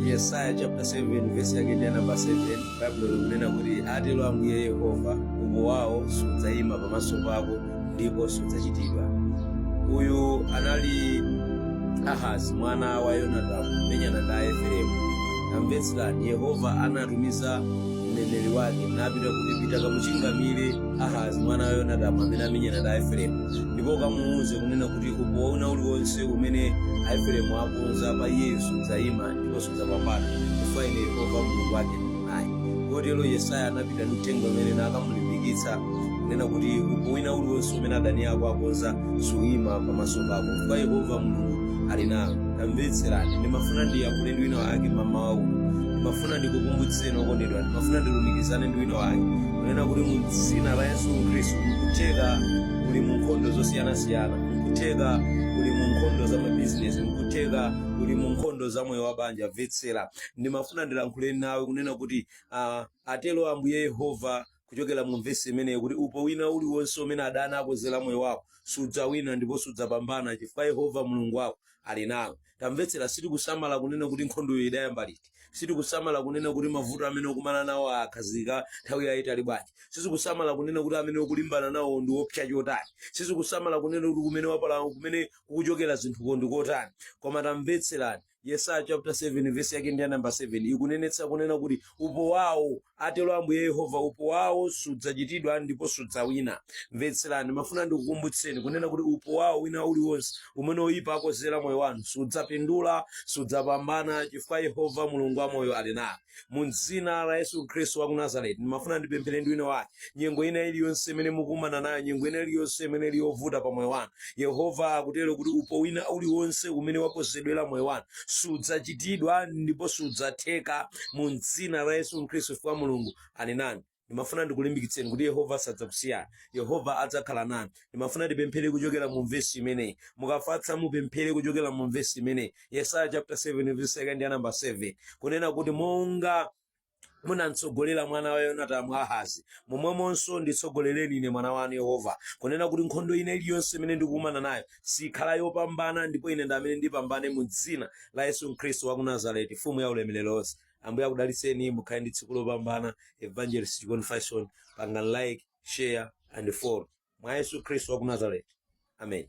yesaya chapter 7 verse yake ndi ya namba 7 baibulo likunena kuti atero ambuye yehova upo wawo sudzayima pamaso pako ndipo sudzachitidwa uyu anali ahazi mwana wa yonatamu kumenyana ndi aefereimu tamvetserani yehova anatumiza mneneri wake napita kuti pita kamuchingamire ahazi mwana wa yonatamu amene amenyana ndi aefereimu ndipo ukamuwuze kunena kuti upo wina uliwonse umene aefereimu akonza pa iyeyo sudzayima ndipo sudzapambana chifukwa ine yehova mulungu wake ndili naye kotero yesaya anapita ndi uthenga umene nakamulimbikitsa kunena kuti upo wina uliwonse umene adani ako akonza suyima pamaso pako chifukwa yehova mulungu ali nawe tamvetserani ndimafuna ndiyankhule ndi wina wake mamawa uno ndimafuna ndikukumbutseni okondedwa ndimafuna ndilumikizane ndi wina wake kunena kuti mu dzina la yesu khristu nkutheka uli mu nkhondo zosiyanasiyana nkutheka uli mu nkhondo za mabizinesi nkutheka uli mu nkhondo za moyo wa banja mvetsera ndimafuna ndilankhule nawe kunena kuti uh, atero ambuye yehova kuchokera mu vesi imeneyo kuti upo wina uliwonse umene adani akozera moyo wako sudzawina ndipo sudzapambana chifukwa yehova mulungu wako ali nawe tamvetsera sitikusamala kunena kuti nkhondoyo idayamba liti sitikusamala kunena kuti mavuto amene ukumana nawo akhazika nthawi yayitali bwanji sizikusamala kunena kuti amene ukulimbana nawo ndi oopsa chotani sizikusamala kunena kuti kumene wapala kumene kukuchokera zinthuko ndi kotani koma tamvetserani yesaya chapter 7 verse yake ndi ya namba 7 ikunenetsa kunena kuti upo wawo atero ambuye yehova upo wawo sudzachitidwa ndipo sudzawina mvetserani ndimafuna ndikukumbutseni kunena kuti upo wawo wina uliwonse umene oyipa akozera moyo wanu sudzapindula sudzapambana chifukwa yehova mulungu wamoyo ali nawe mu dzina la yesu khristu wa ku nazareti ndimafuna ndipemphere ndi wina wake nyengo ina iliyonse imene mukumana nayo nyengo ina iliyonse imene ili yovuta pa moyo wanu yehova akutero kuti upo wina uliwonse umene wakozedwera moyo wanu sudzachitidwa ndipo sudzatheka mu dzina la yesu khristu chifukwa mulungu ali nanu ndimafuna ndikulimbikitseni kuti yehova sadzakusiyani yehova adzakhala nanu ndimafuna tipemphere kuchokera mu vesi imeneyi mukafatsa mupemphere kuchokera mu vesi imeneyi yesaya chapter 7 verse yake ndi ya namba 7 kunena kuti monga munamtsogolera mwana wa yonatamu ahazi momwemonso nditsogolereni ine mwana wanu yehova kunena kuti nkhondo ina iliyonse imene ndikukumana nayo sikhala yopambana ndipo ine ndi amene ndipambane mu dzina la yesu khristu wa ku nazareti mfumu ya ulemerero wonse ambuye akudalitseni mukhale ndi tsiku lopambana evangelist john faison pangani like share and follow mwa yesu khristu wa ku nazareti amen